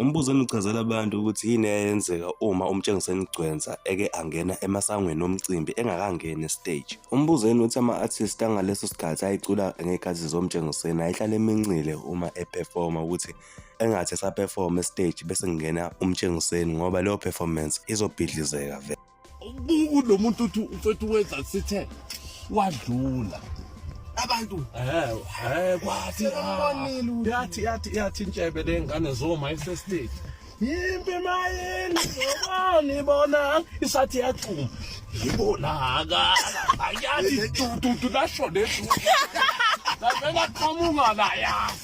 Umbuzo engichazela abantu ukuthi yini eyenzeka uma umtshengiseni igcwensa eke angena emasangweni omcimbi engakangeni estage. Umbuzo yini ukuthi ama-artist angaleso sikhathi ayicula ngey'khathi zomtshengiseni ayihlale emincile uma eperforma ukuthi engathi esaperforma estage bese kungena umtshengiseni ngoba leyo performance izobhidlizeka vele. kulo muntu uthi mfethu wenza sithe wadlula abantu eh eh kwathi umbonile yathi yathi yathi intshebe lengane zoma esestate yimpi mayini zobani bona isathi yachuma yibona aka ayathi tututu lasho lesu la qhamuka la yazi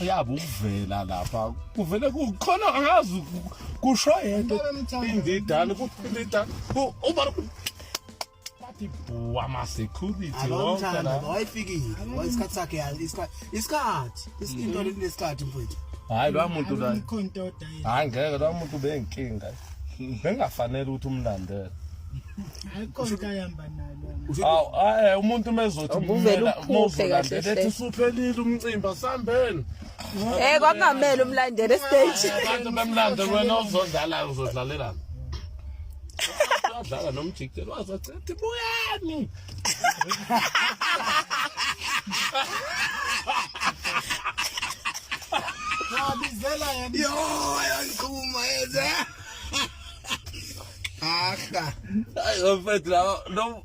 uyabe ukuvela lapha kuvele kukhona angazi kusho yento indidane kuphilita uba bathi bhuwa masecurity wonke wayifikile isikhathi sakhe isikhathi into lesikhathi mfowethu hayi lwa muntu la hayi ngeke lwa muntu benkinga bengafanele ukuthi umlandele awu eh umuntu mezothi Ubuvele umela uphuphe mawuzolandela kahle ethi hle. usuphelile umcimbi asambeni Eh kwakungamele umlandele stage. abantu bemlande wena uzodlala uzodlalelana udlala nomjikijelo wazacela ukuthi buyani Wabizela yena. Yo, ayangiqhuma yenze. Ahla. Ayo mfethu lawo no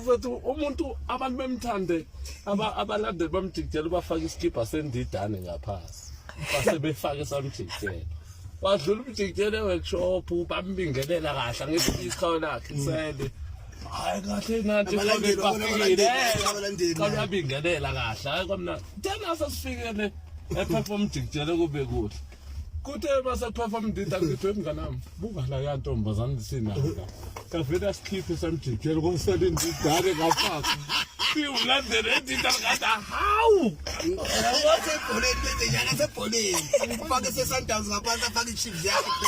mfethu umuntu abantu bemthande aba abalandeli bamjikijela ubafaka isikibha sendidane ngaphasi. Base befaka esamjikijela. Wadlula umjikijela eworkshop bambingelela kahle ngesikhawu lakhe sele. hayi kahle nathi Abalandeli, babona abalandeli, abalandeli. xa uyabingelela kahle hayi kwamnandi then asesifikele ephepha umjikijele kube kuhle kuthe masephepha umdida ngithiwe emnganami buka la ya ntombazane sinaka kavele asikhiphe samjikijele kosele indidane kafaka siwulandele indidane kathi hawu Wasebholeni, lenze njalo asebholeni. Ufake seSundowns ngaphansi, afake iChiefs yakhe.